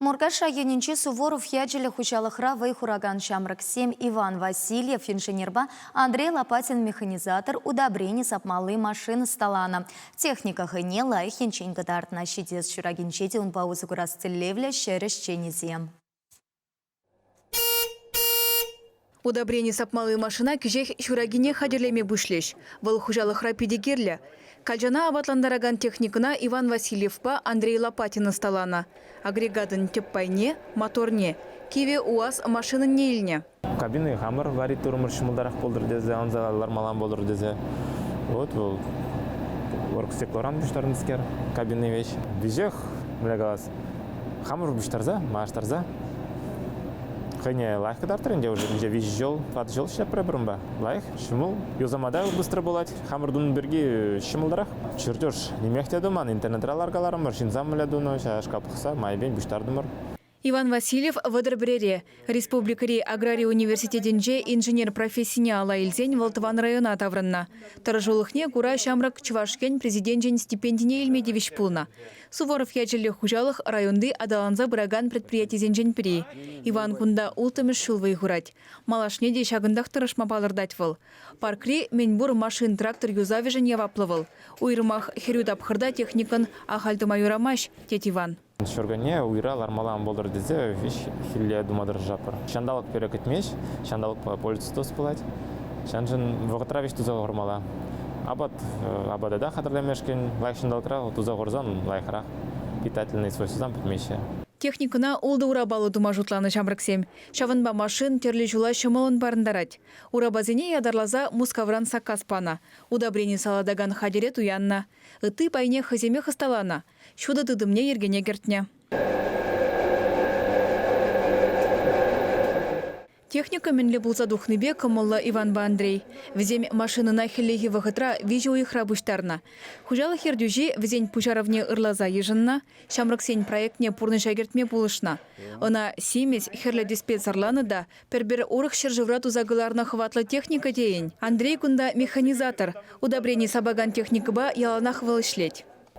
Муркаш районӗнчи Суворов ячӗллӗ хуҫалӑхра вӑй хуракан ҫамрӑксем Иван Васильев инженерпа Андрей Лопатин механизатор удобрени сапмалли машина ӑсталанӑ. Техника хӑйне лайӑх енчен кӑтартнӑ. Ҫитес ҫуракинче те унпа усӑ курас тӗллевлӗ ҫӗр ӗҫченӗсем. Удобрени сапмалли машина кӗҫех ҫуракине хатӗрлеме пуҫлӗҫ. Вӑл хуҫалӑхра питӗ кирлӗ. Калчана апатлантаракан техникӑна Иван Васильевпа Андрей Лопатин ӑсталанӑ. Агрегатӑн тӗп пайне, моторне, кивӗ УАЗ машинӑнне илнӗ. Кабина хамӑр вари-турӑмӑр ҫӑмӑлтарах пултӑр тесе ӑнса лармаллан пулӑр тесе. Вот вӑл оргстеклоран пуҫтарнӑскер, кабинный вещь. Веҫех, бля калас, хамӑр пуҫтарса маҫтарса хӑйне лайӑх кӑтартрӗ ӗнтӗ уже 이제 виҫӗ ҫул тӑватӑ ҫул ҫиҫҫӗпрӗпӗр унпа лайӑх ҫӑмӑл юсама та быстро пулать хамӑр тунӑ пирки ҫӑмӑлтарах чертеж нимех те туман интернетра ларкаларӑмӑр ҫынсам мӗнле тунӑ ҫая шкап пӑхса майӗпен пуҫтартӑмӑр Иван Васильев Вӑтӑр пӗрере, Республикӑри аграри университетӗнче инженер профессине ала илсен вӑл тӑван района таврӑннӑ. Тӑрӑшулӑхне кура ҫамрӑк Чӑваш Ен Президенчӗн стипендине илме тивӗҫ пулнӑ. Суворов ячӗллӗ хуҫалӑх районти аталанса пыракан предприятисенчен пӗри. Иван кунта улттӑмӗш ҫул вӑй хурать. Малашне те ҫакӑнтах тӑрӑшма палӑртать вӑл. Паркри мӗнпур машин-трактор юсавӗшӗн яваплӑ вӑл. Уйрӑмах хӗрӳ тапхӑрта техникӑн ахаль тума юрамасть, тет Иван. Ҫуркунне уйра лармалла ан пултӑр тесе виҫхилле тума тӑрӑшатпӑр. Ҫанталӑк пире кӗтмест, ҫанталӑкпа пользовательство пулать. Ҫавӑншӑн вӑхӑтра вӗҫ туса хурмалла. Апат апата та хатӗрлемешкӗн лайӑх ҫанталӑкра туса хурсан лайӑхрах. Питательнӑй свойствӑсем пӗтмеҫҫӗ. Техникӑна ултӑ урапаллӑ тума шутланӑ ҫамрӑксем. Ҫавӑнпа машин тӗрлӗ ҫула ҫӑмӑллӑн парӑнтарать. Урапасене ятарласа Мускавран саккас панӑ. Удобрени салатакан хатӗре туяннӑ. Ытти пайне хӑйсемех ӑсталанӑ. ҫутӑ тытӑмне йӗркене кӗртнӗ. Техника мӗнле пулса тухнипе кӑмӑллӑ Иванпа Андрей. Вӗсем машинӑна хӗллехи вӑхӑтра виҫӗ уйӑхра пуҫтарнӑ. Хуҫалӑх ертӳҫи вӗсен пуҫарӑвне ырласа йышӑннӑ, ҫамрӑксен проектне пурнӑҫа кӗртме пулӑшнӑ. Ӑна симӗс, хӗрлӗ тӗспе сӑрланӑ та пӗр-пӗр урӑх ҫӗршывра туса кӑларнӑ хӑватлӑ техника тейӗн. Андрей кунта механизатор, удобрени сапакан техникӑпа яланах вӑл ӗҫлет.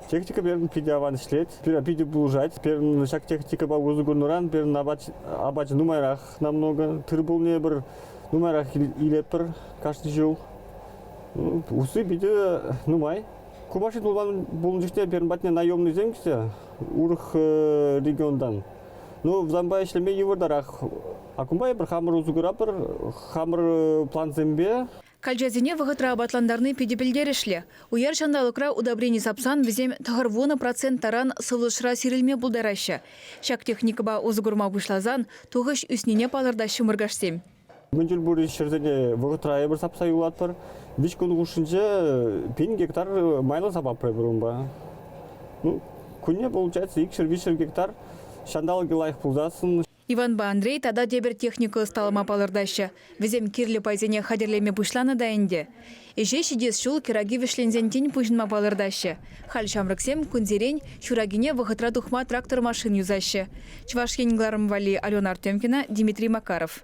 Техника пирӗн питӗ аван ӗҫлет. Пирӗн питӗ пулӑшать. Пирӗн ҫак техникӑпа усӑ курнӑран пирӗн апат, апачӗ нумайрах намного. Тырпулне пӗр нумайрах илетпӗр кашни ҫул. Ну, усси питӗ нумай. Ку машина пулман пулнӑ чухне пирӗн патне наемныйсем килсе урӑх э, регионтан. Ну, взампа ӗҫлеме йывӑртарах. А кунпа эпир хамӑр усӑ куратпӑр, хамӑр плансемпе Калчасене вӑхӑтра апатлантарни питӗ пӗлтерӗшлӗ. Уяр ҫанталӑкра удобрени сапсан вӗсем тӑхӑрвунӑ процент таран сывлӑшра сирӗлме пултараҫҫӗ. Ҫак техникӑпа усӑ курма пуҫласан тухӑҫ ӳснине палӑртаҫҫӗ муркашсем. Мӗн тӗл пур ҫӗрсене вӑхӑтра эпир сапса юлатпӑр. Виҫ кун хушшинче пин гектар майлӑ сапатпӑр эпир унпа. Ну, кунне получается икҫӗр-виҫҫӗр гектар ҫанталӑкӗ лайӑх пулсассӑн Иванпа Андрей тата тепӗр техника ӑсталама палӑртаҫҫӗ. Вӗсем кирлӗ пайсене хатӗрлеме пуҫланӑ та ӗнтӗ. Ӗҫе ҫитес ҫул кӗраки вӗҫленсен тин пуҫӑнма палӑртаҫҫӗ. Халь ҫамрӑксем кунсерен ҫуракине вӑхӑтра тухма трактор машин юсаҫҫӗ. Чӑваш Ен кӑларӑм валли Алена Артемкина, Дмитрий Макаров.